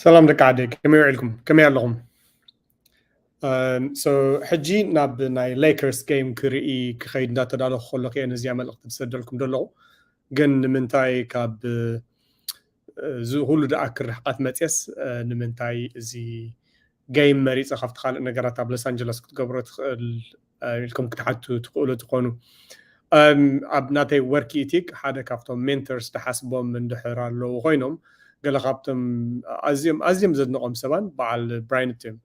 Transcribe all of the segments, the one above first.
ሰላም ደቂ ዓደይ ከመይ ውዒልኩም ከመይ ኣለኹም ሶ ሕጂ ናብ ናይ ሌከርስ ጌም ክርኢ ክኸይድ እንዳተዳለኹ ከለኹ እየ ነዚኣ መልእኽቲ ዝሰደልኩም ዘለኹ ግን ንምንታይ ካብ እዚ ኩሉ ደኣ ክርሕቃት መፅስ ንምንታይ እዚ ጌም መሪፀ ካብቲ ካልእ ነገራት ኣብ ሎስ ኣንጀለስ ክትገብሮ ትኽእል ኢልኩም ክትሓቱ ትኽእሉ ትኾኑ። ኣብ ናተይ ወርክ ኢቲክ ሓደ ካብቶም ሜንተርስ ድሓስቦም እንድሕር ኣለዉ ኮይኖም ገለ ካብቶም ኣዝዮም ኣዝዮም ዘድንቖም ሰባን በዓል ብራይንት እዮም።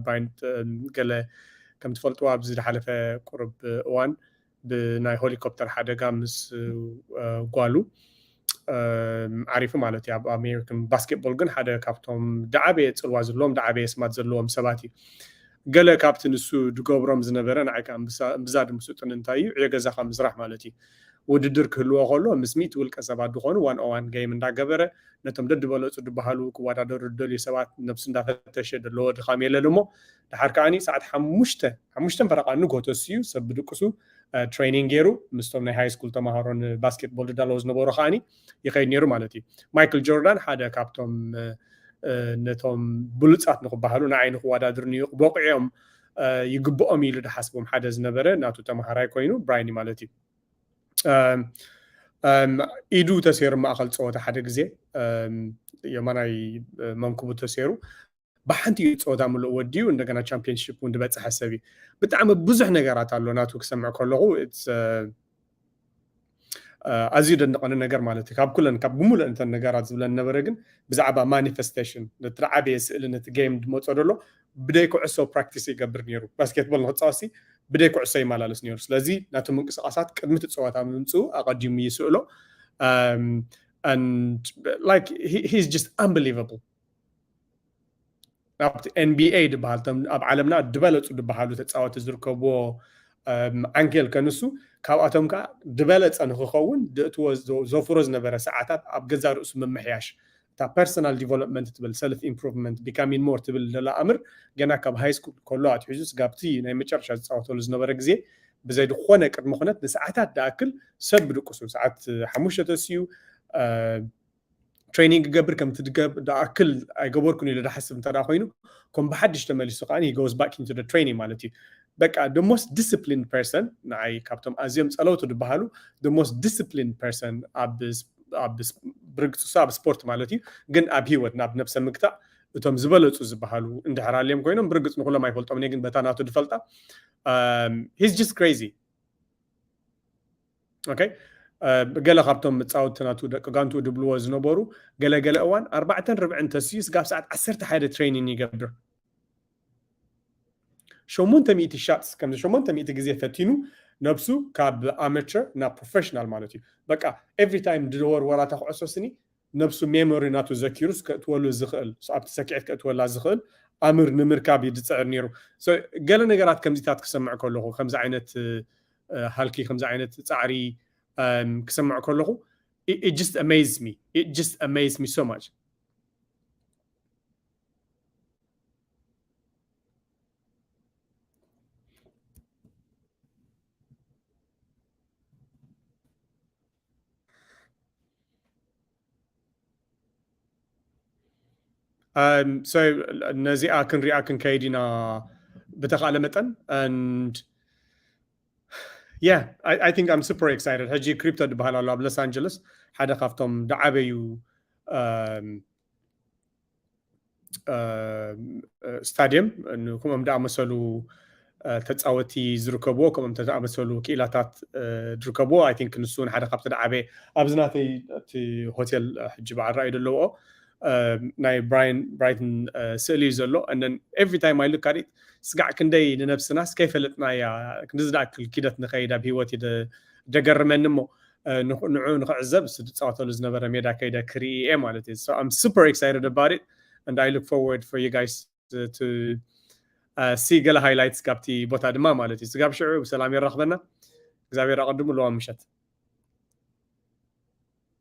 ብራይንት ገለ ከም ትፈልጥዎ ኣብዚ ድሓለፈ ቁሩብ እዋን ብናይ ሆሊኮፕተር ሓደጋ ምስ ጓሉ ዓሪፉ ማለት እዩ ኣብ ኣሜሪካን ባስኬትቦል ግን ሓደ ካብቶም ዳዓበየ ፅልዋ ዘለዎም ዳዓበየ ስማት ዘለዎም ሰባት እዩ ገለ ካብቲ ንሱ ድገብሮም ዝነበረ ንዓይ ከዓ እምብዛ ድምስጡን እንታይ እዩ ዕዮ ገዛካ ምስራሕ ማለት እዩ ውድድር ክህልዎ ከሎ ምስ ሚእቲ ውልቀ ሰባት ድኾኑ ዋን ኦዋን ገይም እንዳገበረ ነቶም ደድበለፁ ድበሃሉ ክወዳደሩ ዝደልዩ ሰባት ነብሱ እንዳፈተሸ ደለዎ ድኻም የለን እሞ ደሓር ከኣ ሰዓት ሓሙሽተ፣ ሓሙሽተን ፈረቓ ንግሆ ተሲኡ ሰብ ብድቅሱ ትሬኒንግ ጌሩ ምስቶም ናይ ሃይስኩል ተማሃሮ ንባስኬትቦል ዝዳለዉ ዝነበሩ ከኣ ይኸይድ ኔሩ ማለት እዩ። ማይክል ጆርዳን ሓደ ካብቶም ነቶም ብሉጻት ንኽበሃሉ ንዓይ ንኽወዳድሩ ንበቂዖም ይግብኦም ኢሉ ዝሓስቦም ሓደ ዝነበረ ናቱ ተማሃራይ ኮይኑ ብራይኒ ማለት እዩ ኢዱ ተሰይሩ ማእኸል ፀወታ ሓደ ግዜ የማናይ መንክቡ ተሰይሩ ብሓንቲ እዩ ፀወታ ምሉእ ወዲኡ እንደገና ቻምፒየንሽፕ እውን ዝበፀሐ ሰብ እዩ ብጣዕሚ ብዙሕ ነገራት ኣሎ ናቱ ክሰምዕ ከለኹ ኣዝዩ ደንቐኒ ነገር ማለት እዩ ካብ ኩለን ካብ ብምሉእ እንተን ነገራት ዝብለን ነበረ ግን ብዛዕባ ማኒፌስቴሽን ነቲ ዓበየ ስእሊ ነቲ ጌም ድመፆ ደሎ ብደይ ኩዕሶ ፕራክቲስ ይገብር ነይሩ ባስኬትቦል ንክፃወሲ ብደይ ኩዕሶ ይመላለስ ነይሩ ስለዚ ናቱ ምንቅስቃሳት ቅድሚ እቲ ፀወታ ምምፅኡ ኣቐዲሙ ይስእሎ ላይክ ሂዝ ጀስት ኣምበሊቨብል ኣብቲ ኤንቢኤ ድበሃል እቶም ኣብ ዓለምና ድበለፁ ድበሃሉ ተፃወቲ ዝርከብዎ ዓንኬል ከንሱ ካብኣቶም ከዓ ድበለፀ ንክኸውን ድእትዎ ዘፍሮ ዝነበረ ሰዓታት ኣብ ገዛ ርእሱ ምምሕያሽ እታ ፐርሰናል ዲቨሎፕመንት ትብል ሰልፍ ኢምፕሩቭመንት ቢካሚን ሞር ትብል ደላ ኣምር ገና ካብ ሃይ ስኩል ከሎ ኣትሒዙ ስጋብቲ ናይ መጨረሻ ዝፃወተሉ ዝነበረ ግዜ ብዘይ ዝኾነ ቅድሚ ኩነት ንሰዓታት ድኣክል ሰብ ብድቅሱ ሰዓት ሓሙሽተ ተስዩ ትሬኒንግ ክገብር ከም እትኣክል ኣይገበርኩን ኢሉ ዝሓስብ እንተደኣ ኮይኑ ከም ብሓድሽ ተመሊሱ ከኣ he goes back into the training ማለት እዩ በቃ the most disciplined person ንዓይ ካብቶም ኣዝዮም ጸለውቲ ዝበሃሉ the most disciplined person ኣብ ኣብ ብርግጽ እሱ ኣብ ስፖርት ማለት እዩ ግን ኣብ ሂወት ናብ ነብሰ ምግታእ እቶም ዝበለጹ ዝበሃሉ እንድሕር ኣልዮም ኮይኖም ብርግጽ ንኩሎም ኣይፈልጦም እኔ ግን በታ ናቱ ድፈልጣ ሂዝ ጀስት ክሬዚ ኦከይ ገለ ካብቶም መጻወቲ ናቱ ደቂ ጋንቱ ድብልዎ ዝነበሩ ገለ ገለ እዋን ኣርባዕተን ርብዕን ተስዩ ስጋብ ሰዓት ዓሰርተ ሓደ ትሬኒን ይገብር ሸሞንተ ሚእቲ ሻትስ ከምዚ ሸሞንተ ሚእቲ ግዜ ፈቲኑ ነብሱ ካብ ኣመቸር ናብ ፕሮፌሽናል ማለት እዩ በቃ ኤቭሪ ታይም ድወርወራ እታ ኩዕሶ ስኒ ነብሱ ሜሞሪ ናቱ ዘኪሩስ ከእትወሉ ዝኽእል ኣብቲ ሰኪዔት ከእትወላ ዝኽእል ኣምር ንምርካብ እዩ ዝጽዕር ኔሩ so ገለ ነገራት ከምዚታት ክሰምዕ ከለኹ ከምዚ ዓይነት ሃልኪ ከምዚ ዓይነት ጻዕሪ ክሰምዕ ከለኹ it just amazed me it just amazed me so much ነዚኣ ክንሪኣ ክንከይድ ኢና ብተኻእለ መጠን and yeah I, I think I'm super excited ሕጂ ክሪፕቶ ዝበሃል ኣሎ ኣብ ሎስ ኣንጀለስ ሓደ ካብቶም ዝዓበዩ ስታድየም ከምኦም ዝኣመሰሉ ተፃወቲ ዝርከብዎ ከምኦም ዝኣመሰሉ ክኢላታት ዝርከብዎ ኣይ ቲንክ ንሱ እውን ሓደ ካብቲ ዝዓበየ ኣብዚ ናተይ እቲ ሆቴል ሕጂ በዓል ራእዩ ዘለውኦ ናይ ብራይን ብራይትን ስእሊ እዩ ዘሎ እነን ኤቭሪ ታይም ኣይ ሉክ ኣዲት ስጋዕ ክንደይ ንነብስናስ ከይፈለጥናያ ክንዲ ዝኣክል ኪደት ንኸይድ ኣብ ሂወት ደገርመኒ እሞ ንዑ ንክዕዘብ እሱ ዝፃወተሉ ዝነበረ ሜዳ ከይደ ክርኢ እየ ማለት እዩ so I'm super excited about it and I look forward for you guys to ሲ ገለ ሃይላይትስ ካብቲ ቦታ ድማ ማለት እዩ ስጋብ ሽዑ ብሰላም የራኽበና እግዚኣብሔር ኣቐድሙ ለዋ ምሸት